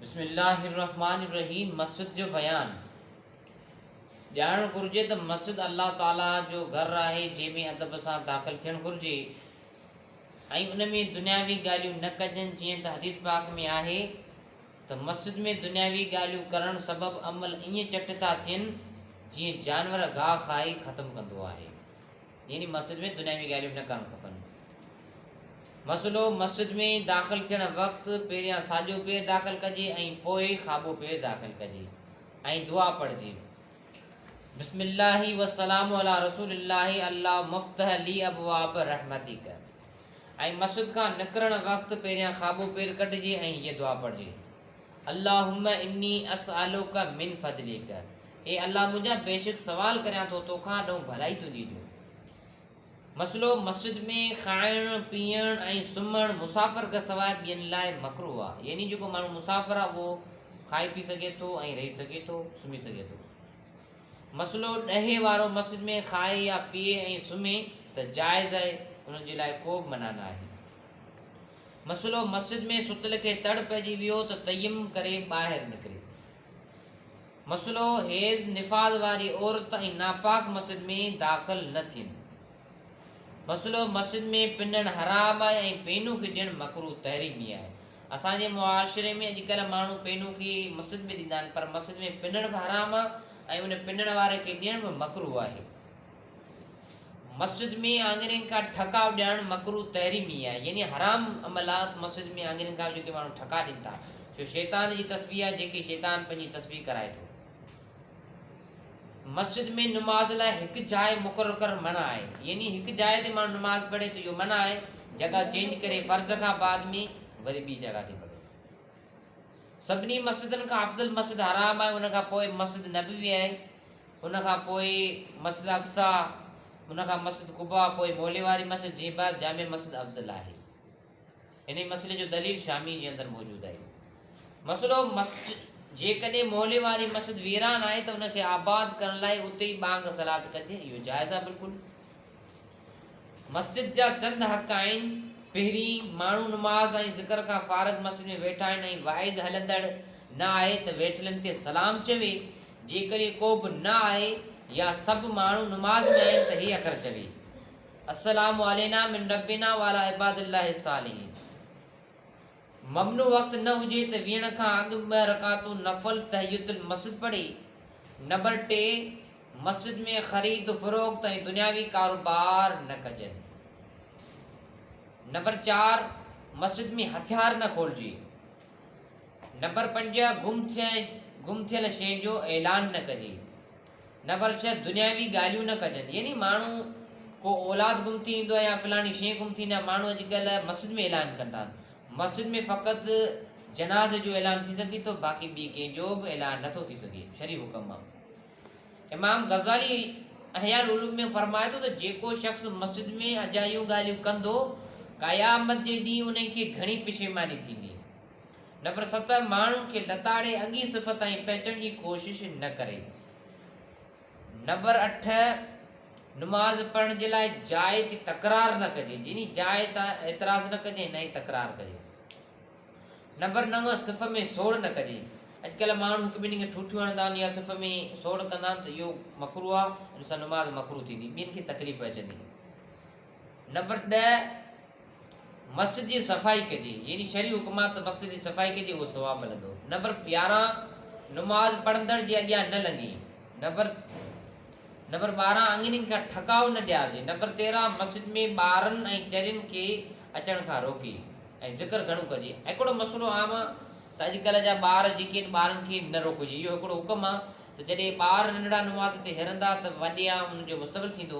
بسم الله الرحمٰن الرحيم مسجد جو بيان ڄاڻڻ گهرجي ته مسجد الله تعاليٰ جو گهر آهي جنهن ۾ ادب سان داخل ٿيڻ گهرجي ۽ ان ۾ دنياوي ڳالهيون نه ڪجن جيئن ته حديث پاڪ ۾ آهي ته مسجد ۾ دنياوي ڳالهيون ڪرڻ سبب عمل ائين چٽ ٿا ٿين جيئن جانور گاهه کائي ختم ڪندو آهي يعني مسجد ۾ دنياوي ڳالهيون به نه ڪرڻ کپن. مسئلو، مسجد ۾ داخل ٿيڻ وقت پهريان ساڄو پير داخل ڪجي ۽ پوء کاٻو پير داخل ڪجي ۽ دعا پڙهجي. بسم الله والسلام على رسول الله الله مفتح لي ابواب رحمتك ۽ مسجد کان نڪرڻ وقت پهريان خابو پير ڪٽجي ۽ هيء دعا پڙهجي اللهم اني اسالوڪ من فضليڪ اي الله منهنجا! بيشڪ سوال ڪريان ٿو تو کان ڏئون ڀلائي تنهنجي جو. مسئلو، مسجد ۾ کائڻ، پيئڻ ۽ سمهڻ مسافر کان سواء ٻين لاء مڪروه آهي، يعني جيڪو ماڻهو مسافر آهي اهو کائي پي سگهي ٿو ۽ رهي سگهي ٿو، سمهي سگهي ٿو. مسئلو، ڏهي وارو مسجد ۾ کائي يا پيئي ۽ سمهي ته جائز آهي، ان جي لاء ڪوبه منع ناهي. مسئلو، مسجد ۾ ستل کي تڙ پئجي ويو ته تيمم ڪري ٻاهر نڪري. مسئلو حيض نفاذ واري عورت ۽ ناپاڪ مسجد ۾ داخل نه ٿين. مسئلو مسجد ۾ پنڻ حرام آهي ۽ پينون کي ڏيڻ مڪروه تحريمي آهي. اسان جي معاشري ۾ اڄ ڪلهه ماڻهو پينون کي مسجد ۾ ڏيندا آهن پر مسجد ۾ پنڻ به حرام آهي ۽ ان پنڻ واري کي ڏيڻ به مڪروه آهي. مسجد ۾ آڱرين کان ٺڪاء ڏيڻ مڪروه تحريمي آهي يعني حرام عمل آهي ته مسجد ۾ آڱرين کان جيڪي ماڻهو ٺڪاء ڏين ٿا جو شيطان جي تسبيح آهي جيڪي شيطان پنهنجي تسبيح ڪرائي ٿو مسجد ۾ نماز لاء هڪ جاء مقرر ڪرڻ منع آهي يعني هڪ جاء تي ماڻهو نماز پڙهي ته اهو منع آهي جڳا چينج ڪري فرض کان بعد ۾ وري ٻي جڳا تي پڙهي سڀني مسجدن کان افضل مسجد حرام آهي ان کان پوء مسجد نبوي آهي ان کان پوء مسجد اقصيٰ، ان کان مسجد قباء، پوء مولي واري مسجد جي بعد جامع مسجد افضل آهي. انهي مسئلي جو دليل شامي جي اندر موجود آهي. مسئلو مسجد جيڪڏهن مولي واري مسجد ويران آهي ته ان کي آباد ڪرڻ لاء اتي ئي ٻانگ صلات ڪجي اهو جائز آهي بلڪل. مسجد جا چند حق آهن، پهرين، ماڻهو نماز ۽ ذڪر کان فارغ مسجد ۾ ويٺا آهن ۽ واعظ هلندڙ نه آهي ته ويٺلن کي سلام چوي، جيڪڏهن ڪو به نه آهي يا سڀ ماڻهو نماز ۾ آهن ته هي اکر چوي، السلام علينا من ربنا وعلي عباد الله الصالحين. ممنوع وقت نه هجي ته ويهڻ کان اڳ ٻه رڪعتون نفل تحيت المسجد پڙهي. نمبر ٽي، مسجد ۾ خريد و فروخت ۽ دنياوي ڪاروبار نه ڪجن. نمبر چار، مسجد ۾ هٿيار نه کولجي. نمبر پنج، گم ٿيل شين جو اعلان نه ڪجي. نمبر ڇهه، دنياوي ڳالهيون نه ڪجن، يعني ماڻهو ڪو اولاد گم ٿي ويندو آهي يا فلاڻي شيء گم ٿي ويندي آهي، ماڻهو اڄڪلهه مسجد ۾ اعلان ڪن ٿا، مسجد ۾ فقط جنازي جو اعلان ٿي سگهي ٿو، باقي ٻي ڪنهن جو به اعلان نٿو ٿي سگهي، شرعي حڪم آهي. امام غزالي احياء العلوم ۾ فرمائي ٿو ته جيڪو شخص مسجد ۾ اجايون ڳالهيون ڪندو، قيامت جي ڏينهن انهي کي گهڻي پشيماني ٿيندي. نمبر ست، ماڻهن کي لتاڙي اڳين صفت تائين پهچڻ جي ڪوشش نه ڪري. نمبر اٺ، نماز پڙهڻ جي لاء جاء تي تڪرار نه ڪجي، جني جاء تان اعتراض نه ڪجي نه ئي تڪرار ڪجي. نمبر نو، صف ۾ سوڙ نه ڪجي. اڄڪلهه ماڻهو هڪ ٻنهي کي ٺوٺيون هڻندا آهن يا صف ۾ سوڙ ڪندا آهن ته اهو مڪروه آهي، ان سان نماز مڪروه ٿيندي، ٻين کي تڪليف پهچندي. نمبر ڏهه، مسجد جي صفائي ڪجي، يعني شرعي حڪم آ ته مسجد جي صفائي ڪجي اهو ثواب ملندو. نمبر يارهن، نماز پڙهندڙ جي اڳيان نه لنگهي. نمبر نمبر ٻارهن، اڱرين کان ٺڪاء نه ڏيارجي. نمبر تيرهن، مسجد ۾ ٻارن ۽ چرين کي اچڻ کان روڪي ۽ ذڪر گهڻو ڪجي. هڪڙو مسئلو عام آ ته اڄڪلهه جا ٻار جيڪي آهن ٻارن کي نه روڪجي اهو هڪڙو حڪم آ ته جڏهن ٻار ننڍڙا نماز تي هرندا ته وڏيان انهن جو مستقبل ٿيندو.